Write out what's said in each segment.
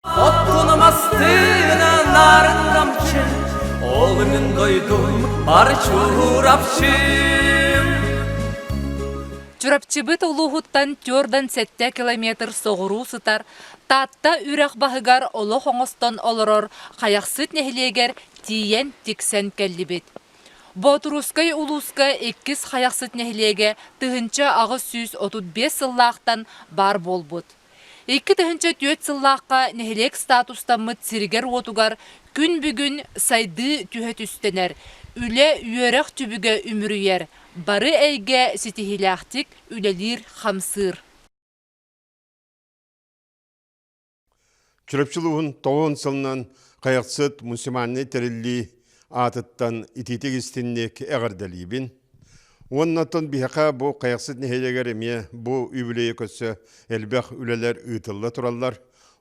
Отгунумастыына нарын намчы, Олугун дойдум бар Чурапчым. Чурапчыбыт улууһуттан түөрдан сэттэ километр соҕуруу сытар Таатта үрэх баһыгар олох оҥостон олорор Хайахсыт нэһилиэгэр тиийэн тиксэн кэллибит. Боотурускай улууска иккис Хайахсыт нэһилиэгэ тыһыынча аҕыс сүүс отут биэс сыллаахтан баар буолбут. Икки тыһыынча түөрт сыллаахха нэһилиэк статустаммыт сиригэр-уотугар күн бүгүн сайдыы түһэ түстэнэр, үлэ-үөрэх түбүгэ үмүрүйэр, бары эйгэ ситиһиилээхтик үлэлиир-хамсыыр. Чурапчы улууһун тоҕуон сылынан Хайахсыт муниципальнай тэриллии аатыттан итиитик истинник эҕэрдэлиибин. Уонна оттон биһиэхэ бу Хайахсыт нэһилиэгэр эмиэ бу үбүлүөйэ көрсө элбэх үлэлэр ыытылла тураллар.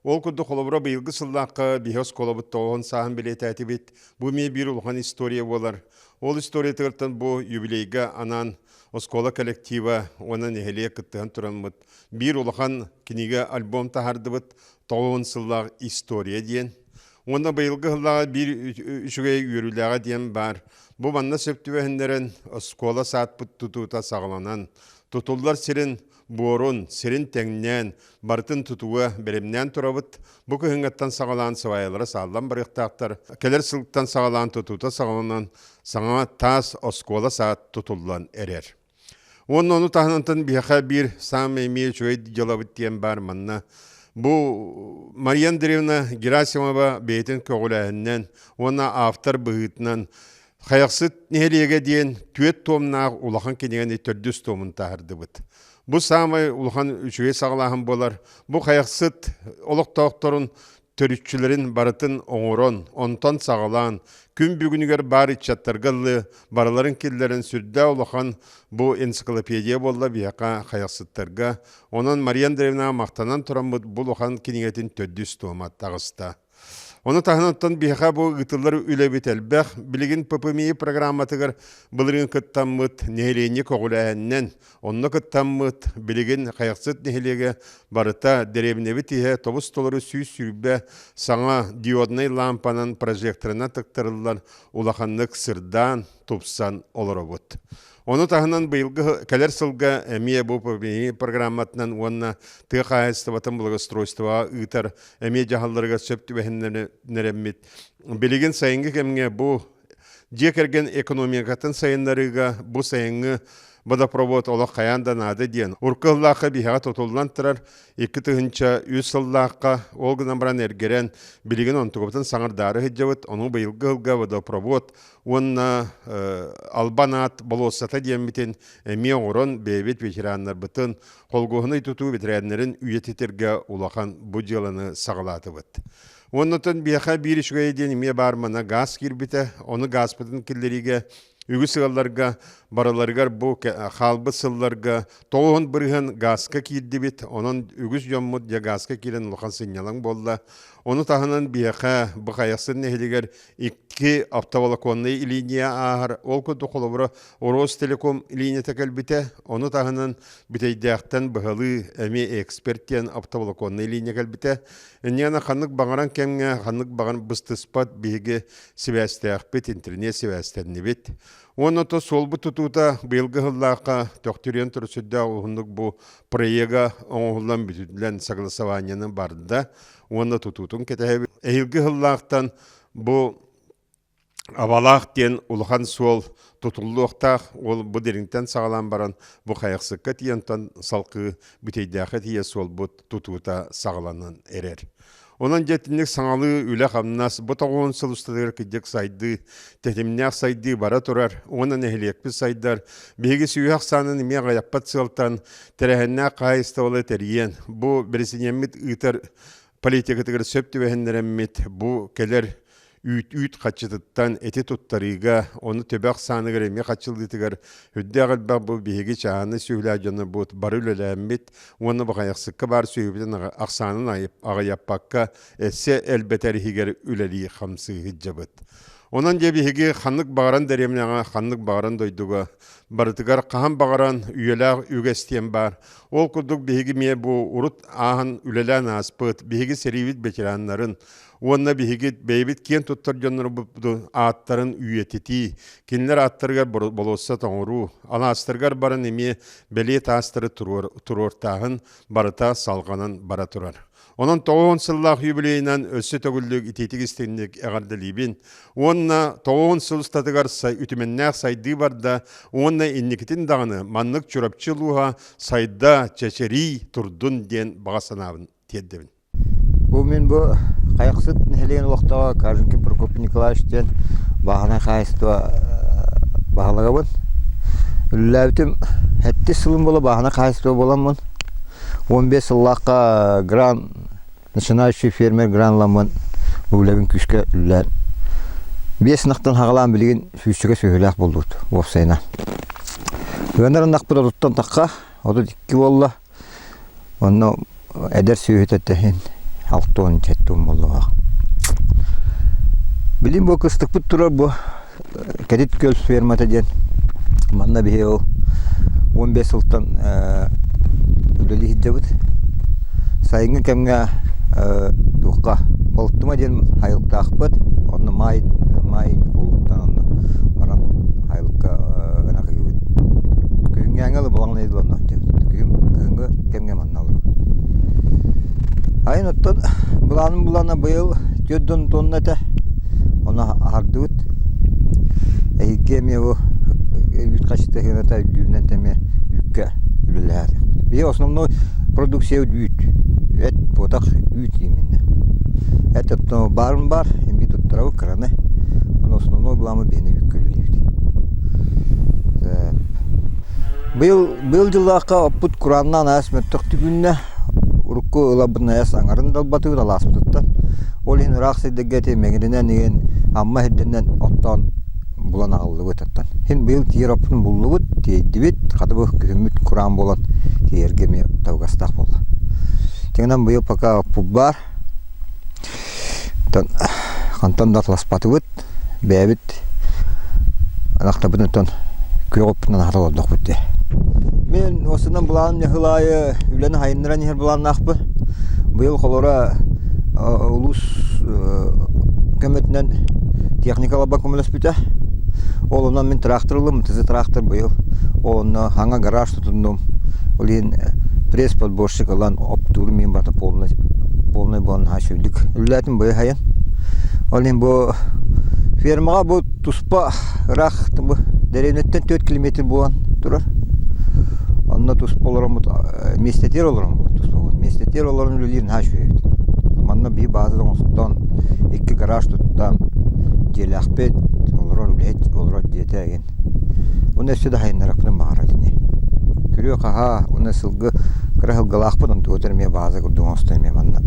Ол курдук холобура быйылгы сыллаахха биһи оскуолабыт тоҕуон сааһын бэлиэтээтибит. Бу эмиэ биир улахан история буолар. Ол историятыгар бу юбилейга анаан оскуола коллектива уонна нэһилиэк кыттыһан тураммыт Биир улахан кинигэ альбом таһардыбыт Тоҕуун сыллаах история диэн. Уонна быйылгы сыллааҕы биир үчүгэй үөрүүлээҕэ диэн баар. Бу манна сөп түбэһиннэрэн оскуола саадпыт тутуута саҕаланан, тутуллар сирин буорун, сирин тэҥнээн, барытын тутууга бэлэмнээн турабыт. Бу кыһыҥҥаттан саҕалаан сыбаайалара сааллан барыахтаахтар. Кэлэр сылтан саҕалаан тутуута саҕаланан, саҥа таас оскуола саад тутуллан эрэр. Уонна ону таһынан биһэхэ биир сам имею үчүгэй дьыалабыт диэн баар манна Бу Мария Андреевна Герасимова бэйэтин көҕүлээһининэн уонна автор быһыытынан Хайахсыт нэһилиэгэ диэн түөрт туомнаах улахан кинигэни төрдүс туомун таһардыбыт. Бу саамай улахан үчүгэй саҕалааһын буолар. Бу Хайахсыт олохтоохторун төрүччүлэрин барытын оҥорон, онтон саҕалаан, күн бүгүнүгэр баар ыччаттарга ылыы барыларын киллэрэн сүрдээх улахан бу энциклопедия буолла биһиэхэ хайахсыттарга. Онон Мария Андреевнаҕа махтанан тураммыт бу улахан кинигэтин төрдүс туома таҕыста. Оны таһынаттан биһиэхэ бу ыытыллар үлэбит элбэх. Билигин ППМИ программатыгар былыргы кыттаммыт нэһилиэнньэ көҕүлээһининэн Онно кыттаммыт, билигин Хайахсыт нэһилиэгэ барыта дэриэбинэбит иһэ тобус-толору сүүс сүүрбэ саҥа диоднай лаампанан прожекторынан тыктарыллан улаханнык сырдаан, тупсан олоробут. Ону таһынан быйылгы кэлэр сылга эмиэ бу программатынан уонна тыа хаһаайыстыбатын благоустройствоҕа ыытар эмиэ дьаһалларыгар сөп түбэһиннэрэммит. Билигин сайыҥҥы кэмҥэ бу дьиэ кэргэн экономикатын сайыннарыыга бу сайыҥҥы водопровод олох хайаан да наада диэн урукку сыллаахха биһэҕэ тутуллан турар икки тыһыынча үс сыллаахха ол гынан баран эргэрэн билигин онтугабытын саҥардаары сылдьабыт ону быйылгы сылга водопровод уонна албан аат болуоссата диэммитин эмиэ оҥорон бэйэбит ветераннарбытын холуоһунай тутуу ветераннарын үйэтитэргэ улахан бу дьыаланы саҕалаатыбыт Оннотон биэха биир үчүгэй диэн эмиэ баар мана газ киирбитэ. Ону газпытын киллэриигэ үгүс сылларга барыларыгар бу хаалбыт сылларга тоҕуһун бырыһын газка киирдибит. Онон үгүс дьоммут дьэ газка киирэн улахан сынньалаҥ буолла. Ону таһынан биэхэ Бухайахсын нэһилигэр икки оптоволоконный линия ааһар. Ол курдук холобура Ростелеком линиятэ кэлбитэ. Ону таһынан бүтэйдээхтэн быһалыы эми эксперт диэн оптоволоконный линия кэлбитэ. Инниэна ханнык баҕаран кэмҥэ, ханнык баҕар быстыспат биһиги сибээстээхпит, интэрниэт сибээстэннибит. Уонна то суолбут тутуута быйылгы сыллаахха төхтүрүйэн турар сүрдээх уһуннук бу проега оҥоһуллан бүтүллэн согласованиены барда уонна тутуутун кэтэһэбит. Эһиилги сыллаахтан бу Абалаах диэн улахан суол тутуллуохтаах, ол бу дириҥтэн саҕалаан баран бу хайахсыкка тиийэ онтон салгыы Бүтэйдээххэ тиийэ суолбут тутуута саҕаланан эрэр. Онон дьэ итинник саҥалыы үлэ-хамнас бу тоҕуон сыл устатыгар кырдьык сайдыы, тэтимнээх сайдыы бара турар. Уонна нэһилиэкпит сайдар. Биһиги сүһүөх ахсаанын эмиэ аҕыйаппат сыалтан тэрээһиннээх хаһаайыстыбалы тэрийэн, бу бэрэсидьиэммит ыытар политикатыгар сөп түбэһиннэрэммит, бу кэлэр үүт-үүт хаччытыттан эти туттарыыга, ону төбөх сааныгар эмиэ хаччыллыытыгар үрдээх элбэх бу биһиги чааһынай сүөһүлээх дьоннорбут бары үлэлээммит уонна баҕайахсыкка баар сүөһүбүтүн ахсаанын аҕыйаппакка эссе элбэтэр иһигэр үлэлии-хамсыы сылдьабыт. Онон дьэ биһиги ханнык баҕаран дэриэбинэҕэ, ханнык баҕаран дойдуга барытыгар хаһан баҕаран үйэлээх үгэс диэн баар. Ол курдук биһиги эмиэ бу урут ааһан үлэлээн ааспыт биһиги сэриибит ветераннарын, уонна биһиги бэйэбит киэн туттар дьоннорбут ааттарын үйэтитии, кинилэр ааттарыгар болуосса тоҥоруу, алаастарыгар баран эмиэ бэлиэ таастары туруортааһын барыта салҕанан бара турар. Онон тоҕуон сыллаах юбилейынан өссө төгүллүк итиитик-истинник эҕэрдэлиибин уонна тоҕуон сыл устатыгар үтүмэннээх сайдыы барда уонна инникитин даҕаны маннык Чурапчы улууһа сайда, чэчирии турдун диэн баҕа санаабын тиэрдэбин. Бу мин бу Хайахсыт нэһилиэгин олохтооҕо Каженкин Прокопий Николаевич диэн бааһынай хаһаайыстыба баһылыгабын. Үлэлээбитим сэттис сылым буола бааһынай хаһаайыстыба буоламмын уон биэс сыллаахха гран начинающий фермер гранламмын үбүлэбин күүскэ үлэлээн биэс ынахтан саҕалаан билигин фүүсчэкэ сүөһүлээх буоллубут уопсайынан. Ыанар ынахпыт отуттан тахха отут икки буолла. Онно эдэр сүөһүтэ тэһин алтуон кэттуун буоллаҕа. Билим бу кыстыкпыт турар бу Кэтит Күөл фермата диэн манна биһи ол уон биэс сылтан үлэлии сылдьабыт. Сайыҥҥы кэмҥэ туохха Балтыма диэн айылтаахпыт, онно маай маай уулуттан онно баран Айылыкка ынах иибит. Күһүҥҥээҥҥи ыла балаҕан ыйы буланнах диэбит. Күһүн күһүҥҥү кэмҥэ манна олоробут. Айан оттон былаанын булана быйыл түөрт да он туонна этэ. Ону аһардыбыт. Эһигги эмиэ бу үүт хачытыһыыната үрдүүрүнэн эмиэ үүккэ үлэлэһэриэхпит. Биһиги основной продукция үүт. Эт, потах, үүт ииминнэ. Эт оттон баарын баар, имбий туттарабыт кыран Ону основной благамы биэнэбиккэ үлэлиибит. Быйыл быйыл дьыллаахха оппут курааннаан аяс мөттөх түгүннэ урукку ылабын аяс аңарын далбатыыт алааспытыттан ол иһин ыраах сирдэргэти мэгиринэн иген амма хирденнен оттоон булан аҕыллыбыт оттон һин быйыл тиер оппутун буллубут тиэйдибит хатыбых күһүммүт кураан болон тиэргэ эмиэ табыгастаах буолла. Тегенан быйыл пока оппут баар хантан да аталаспатыбыт бэйэбит атахтарбыт оттон күөҕүппүтүнэн аһата олордохпут дии мин уосунан былаан нэһил аайы үлэни сайыннаран иһэр былааннаахпын быйыл холоро улуус көмөтүнэн техника лабан көмөлөспүтэ ол онон мин тыраахтыр ыллым ТЗ тыраахтыр быйыл ол онно хаҥа гараж тутуннум. Ол иһин пресс-подборщик ылан оптууру мин барыта полнай полнай буолан наһаа сүрдүк үллээтим быйыһайын. Ол иһин бу фермаҕа бу туспа ыраах дэриэбинэттэн түөрт километр буолан турар. Онно туспа олороммут миэстэтигэр олороммут туспабыт миэстэтигэр олорон үлэлиир наһаа үчүгэйбит. Манна биир бааза оҥостон икки гараж туттан дьиэлээхпит олорор үлэһит олорор дьиэтэ Уонна өссө да сайыннарыахпытын баҕарар ини. Күрүө-хаһаа уонна сылгы кыра сылгылаахпыт, онтубут эрэ эмиэ бааза курдук оҥостон эмиэ манна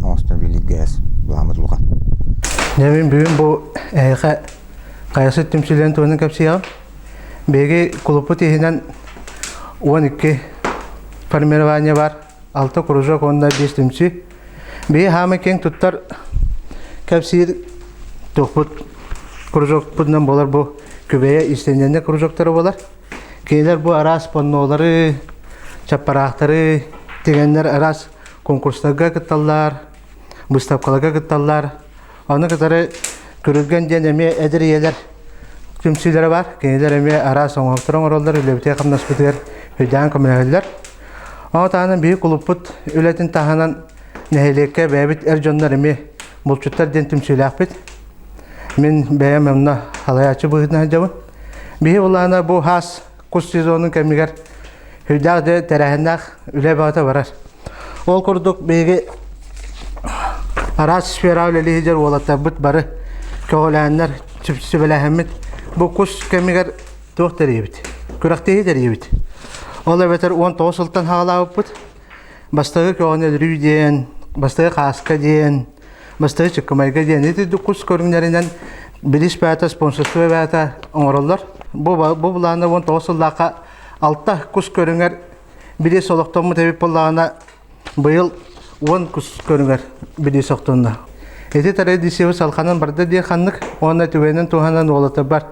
оҥостон билииргэ эс былааммыт улахан. Дьэ мин бүгүн бу эһиэхэ Хайасыт түмсүүлэрин туһунан кэпсиэҕим. Биһиги кулуппут иһинэн уон икки формирование бар. алта кружок уонна биэс түмсүү. Бии хаамы кең туттар кэпсиир туохпут кружокпутунан болар бу күбэйэ истенненне кружоктары болар. Кейлер бу араас поннолары, чаппараахтары тигеннер араас конкурстарга кытталлар, быставкаларга кытталлар, Аны кытары Күрүлгэн диэн эмиэ эдэр ийэлэр түмсүүлэрэ бар. Кинилэр эмиэ араас оҥоһуктары оҥороллор, үлэбитигэр хамнаспытыгар өйдөөн көмөлөһөллөр. Ону таһынан биһи кулуппут үлэтин таһынан нэһилиэккэ бэйэбит эр дьоннор эмиэ булчуттар диэн түмсүүлээхпит. Мин бэйэм онно халайааччы быһыытынан сылдьабын. Биһи былаана бу хаас кус сезонун кэмигэр сүрдээх дьэ тэрээһиннээх үлэ бөҕөтө барар. Ол курдук биһиги араас сфера үлэлиһиджэр уолаттарбыт бары көҕүлээннэр сүбэлэһэммит бу кус кэмигэр туох тэрийэбит күрэхтэһии тэрийэбит ол эбэтэр уон тоҕус сылтан хаалаабыппыт бастагы көҕөнөлрүү диэн бастагы хааска диэн Бастайы чыккымайга диэн итирдик кус көрүҥнэринэн билиш бээтэ, спонсорство бээтэ оҥороллор. Бу бу былаана уон тоҕус сыллаахха алта кус көрүҥэр билис олохтоммут эбит боллаана быйыл уон кус көрүҥэр билис охтонно. Ити традиция салханан барда диэ ханнык уонна түгэнин туһанан уолата бар.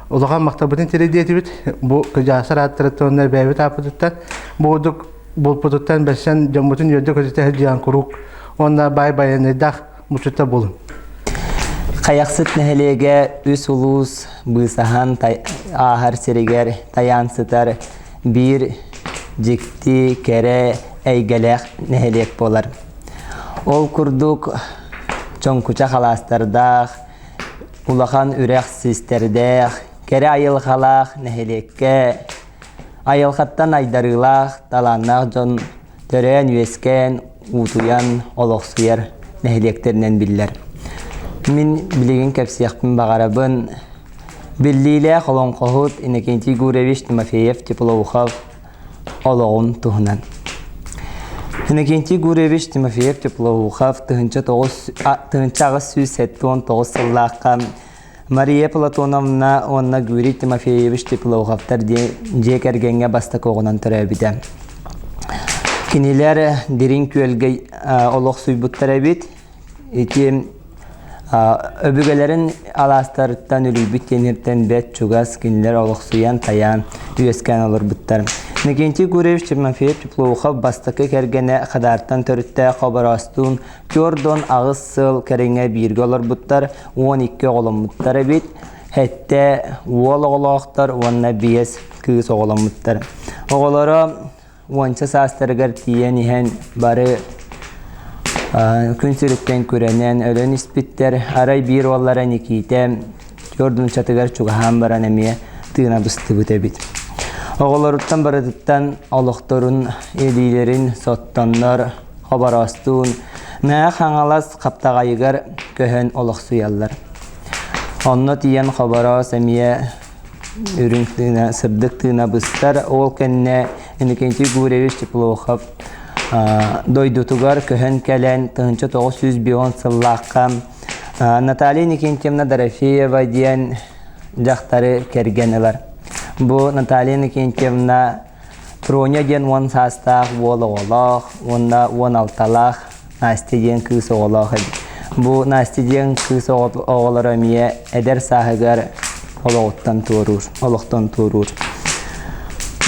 Улахан махтабытын тирэдиэтибит бу кыдьаасар ааттарыттан эбээбит ааппытыттан бу курдук Булпутуттан бэрсэн дьоммутун үөрдэ-көтүтэ сылдьан куруук уонна баай байанайдаах мусута булун. Хайахсыт нэһилиэгэ үс улуус быысаһан ааһар сиригэр тайаан сытар биир дьикти, кэрэ, эйгэлээх нэһилиэк буолар. Ол курдук Чоҥкуча халаастардаах, улахан үрэх систердээх, кэрэ айылҕалаах нэһилиэккэ Айылҕаттан айдарыылаах, талааннаах дьон төрөөн-үөскээн, уутуйан олохсуйар нэһилиэктэринэн биллэр. Мин билигин кэпсиэхпин баҕарабын. Биллиилээх олоҥхоһут Иннокентий Гурьевич Тимофеев Теплоухов олоҕун туһунан. Иннокентий Гурьевич Тимофеев Теплоухов тыһыынча тоҕус тыһыынча аҕыс сүүс сэттэ уон тоҕус сыллаахха Мария Платоновна уонна Гюрий Тимофеевич Тепловховтар диэн дьиэ кэргэҥҥэ бастакыҕынан төрөөбүтэ. Кинилэр дириҥ күөлгэ олохсуйбуттар эбит. Ити өбүгэлэрин алаастарыттан үлүйбүт тиэниртэн бэт чугас кинилэр олохсуйан тайаан үөскээн олорбуттар. Никентий Гурьевич Тимофеев Теплоухов бастакы кэргэнэ Хадаартан төрүттээх обороостуун Көрдөн аҕыс сыл кэриҥэ бииргэ олорбуттар, уон икки оҕоломмуттар эбит. Хэттэ уол оҕолоохтор уонна биэс кыыс оҕоломмуттар. Оҕолоро уонча саастарыгар тиийэн иһэн бары күн сириттэн күрэнэн өлөн испиттэр. Арай биир уоллара Никиитэ Төрт нууччатыгар чугаһаан баран эмиэ тыына быстыбыт эбит. Оҕолоруттан барытыттан олохторун илиилэрин соттоннор, хобороостуун, Мээ Хаҥалас хаптаҕайыгар көһөн олохсуйаллар. Онно тиийэн хобороос эмиэ үрүҥ тыына, сырдык тыына быстар. Ол кэннэ Иннокентий Гурьевич Теплохов дойдутугар көһөн кэлэн тыһыынча тоҕус сүүс бион сыллаахха Наталья Никентьевна Дорофеева диэн дьахтары кэргэн ылар. Бу Наталья Никентьевна Проня диэн уон саастаах уол оҕолоох уонна уон алталаах Настя диэн кыыс оҕолоох эбит. Бу Настя диэн кыыс оҕолоро эмиэ эдэр сааһыгар олоҕуттан туоруур, олохтон туоруур.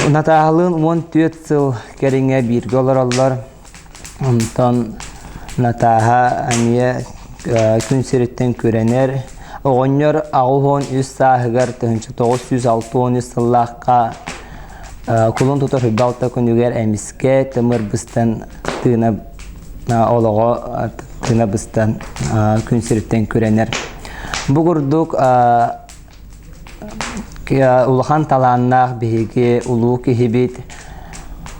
Натаалыын уон түөрт сыл кэриҥэ бииргэ олороллор. Онтон Натааһа эмиэ күн сириттэн күрэнэр. Оҕонньор аҕыс уон үс сааһыгар, тыһыынча тоҕус сүүс алта уон үс сыллаахха кулун тутар Уйбалта күнүгэр эмискэ тымыр быстан тыына олоҕо тыына быстан күн сириттэн күрэнэр. Бу курдук улахан талааннаах биһиги улуу киһибит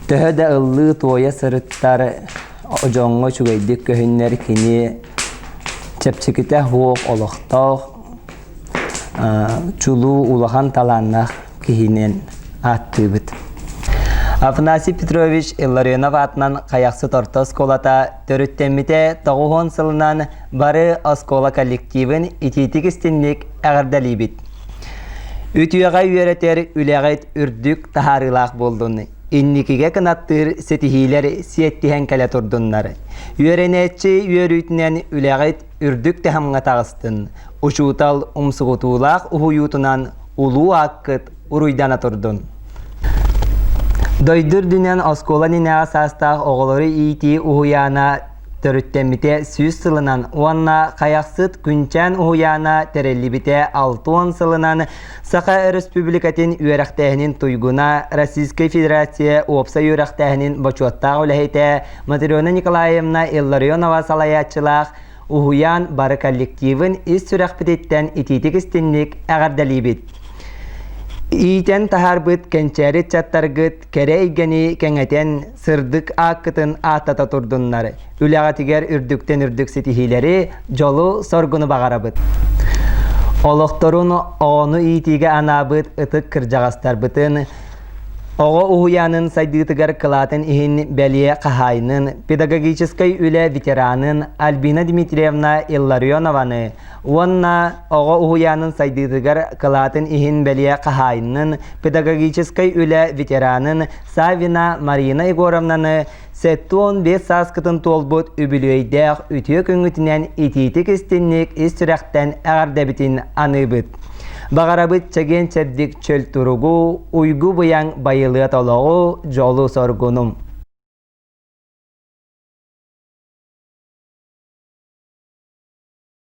төһө да ыллыы-туойа сырыттар дьоҥҥо үчүгэйдик көһүннэр кини чэпчэкитэ суох олохтоох чулуу улахан талааннаах киһинэн ааттыыбыт афанасий петрович илларионов аатынан хайахсыт орто оскуолата Төрүттэммитэ тоҕуһуон сылынан бары оскуола коллективын итиитик истинник эҕэрдэлиибит. Үтүөҕэ үөрэтэр үлэҕит үрдүк таһаарыылаах болдун. Инникигэ кынаттыыр ситиһиилэр сиэттиһэн кэлэ турдуннар. Үөрэнээччи үөрүүтүнэн үлэҕит үрдүк таһымҥа таҕыстын. Учуутал умсугутуулаах уһуйуутунан улуу ааккыт уруйдана турдун. Дойду үрдүнэн оскуола нинэҕэ саастаах оҕолору иитии уһуйаана төрүттэммитэ сүүс сылынан уонна Хайахсыт Күнчээн уһуйаана тэриллибитэ алтуон сылынан Саха Өрөспүүбүлүкэтин үөрэхтээһинин туйгуна Российскай Федерация уопсай үөрэхтээһинин бочуоттаах үлэһитэ Матрена Николаевна Илларионова салайааччылаах Уһуйаан бары коллективын ис сүрэхпититтэн итиитик-истинник эҕэрдэлиибит. Иитэн таһаарбыт кэнчээри ыччаттаргыт кэрэ эйгэни кэҥэтэн, сырдык ааккытын ааттата турдуннар. Үлэҕитигэр үрдүктэн үрдүк ситиһиилэри, дьолу, соргуну баҕарабыт. Олохторун оҕону иитиигэ анаабыт ытык кырдьаҕастарбытын Оҕо уһуйаанын сайдыытыгар кылаатын иһин бэлиэ хаһаайынын, педагогическай үлэ ветеранын Альбина Дмитриевна Илларионованы уонна оҕо уһуйаанын сайдыытыгар кылаатын иһин бэлиэ хаһаайынын, педагогическай үлэ ветеранын Савина Марина Егоровнаны Сэттэ уон биэс сааскытын туолбут үбүлүөйдээх үтүө күҥҥүтүнэн итиитик-истинник ис сүрэхтэн эҕэрдэбитин аныыбыт. Баҕарабыт чэгиэн-чэбдик чөл туругу, уйгу-быйаҥ байылыат олоҕу, дьолу-соргуну.